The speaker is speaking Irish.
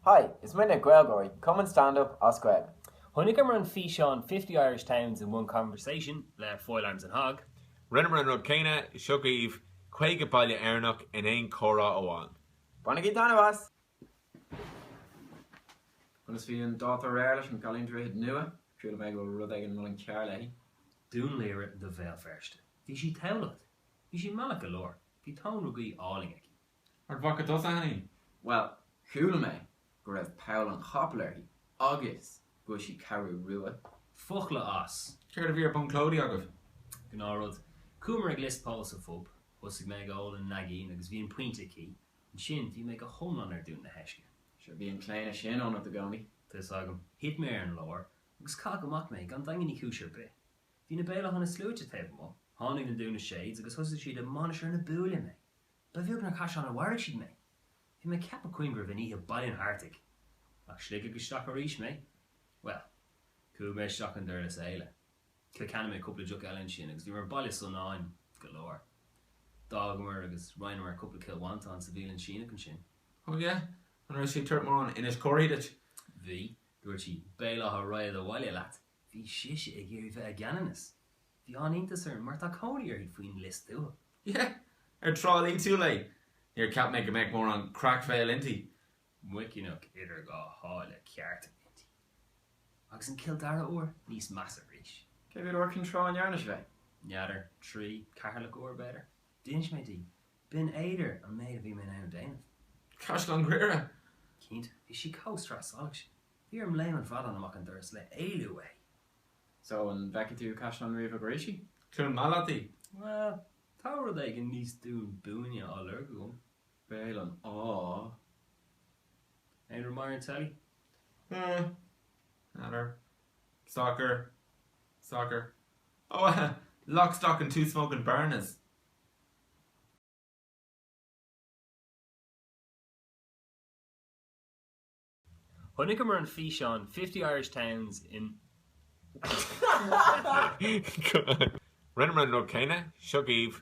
Hi, is muidne GaelGÁIRÍ, cumann stand up as Gaeilge. Chonaiceamar an físeán Fifty Irish Towns in One Conversation le Foil Arms and Hog. Rinneamar an rud céanna, seo dhaoibh, 50 baile Éireannach in aon comhrá amháin. Bainigí taitneamh as! Conas a bhí an dáta aréir leis an gcailín Droichead Nua? Triail a bheith ag lorg rud éigin Muileann Cearr léi. Dún Laoghaire do Bhéal Feirste. Bhí sí Tamhlacht. Bhí sí meallach go leor. Bhí Tóin re Gaoith álainn aici. Ard Mhacha tú as aithne í? Bhuel, chuala mé go raibh Poll an Chapaill uirthi agus go bhfuil sí Ceathrú Rua. Focla as. Céard a bhí ar Bun Clóidí agaibh? Gnáth rud. Chuamar ag Lios Póil sa phub. Thosaigh mé ag ól an naigín agus bhí an pointe aici. Ansin bhí mé go hiomlán ar Dún na hEisce. Sure, bhí an claonadh sin ionat i gcónaí. Tá a fhios agam. Thit mé ar an lár agus caitheadh amach mé gan Daingean Uí Chúis ar bith. Bhí na Béal Átha na Sluaite taobh amuigh. Tháinig na Dún na shades agus thosaigh siad ag Mainistir na Búille mé. Ba bheag nár Caisleán an Bharraigh siad mé. Bhí mé ag Ceapach Choinn go raibh an oíche Baile an Artaigh. Ach Sligeach isteach arís mé. Bhuel, chuaigh mé isteach i nDurlas Éile. Cill Chainnigh mé cúpla deoch eile ansin agus bhíomar Baile Sonáin go leor. D'fhágamar agus roinneamar cúpla Cill Mhantáin sa bhialann Síneach ansin. Ó yeh, an raibh sí ag tabhairt mórán Inis Córthaidh duit? Bhí. Dúirt sí, Béal Átha Ragad abhaile leat. Bhí sise ag iarraidh bheith i gCeanannas. Bhí an-iontas orm mar tá cónaí uirthi faoin Lios Tuathail. Yeh! Ar Trá Lí tú léi. Níor cheap mé go mbeadh mórán Creachmhaoil inti. Muiceanach idir Dhá Sháile ceart inti. Agus an Cill Dara uair níos measa arís. Cé mhéad uair Ceann Trá a ndearna sibh é? N'fheadar, trí, Ceatharlach uair, b'fhéidir. D'inis mé di. Binn Éadair an méid a bhí mé in ann a dhéanamh. Caisleán Ghriaire! Cinnte. Bhí sí chomh Sraith Salach sin. Bhí orm Léim an Bhradáin amach an doras le éalú uaidh. So, an bhfeicfidh tú Caisleán Riabhach arís í? Cluain Meala leat í? Bhuel, tá rud éigin níos Dún Búinne á lorg agam. Béal an Átha. Aon rud maith ar an teilí? Eh. N'fheadar. Soccer. Soccer. Oh eh, Lock, Stock and Two Smokin' Bearnas! Chonaiceamar an físeán Fifty Irish Towns in Rinneamar an rud céanna. Seo dhaoibh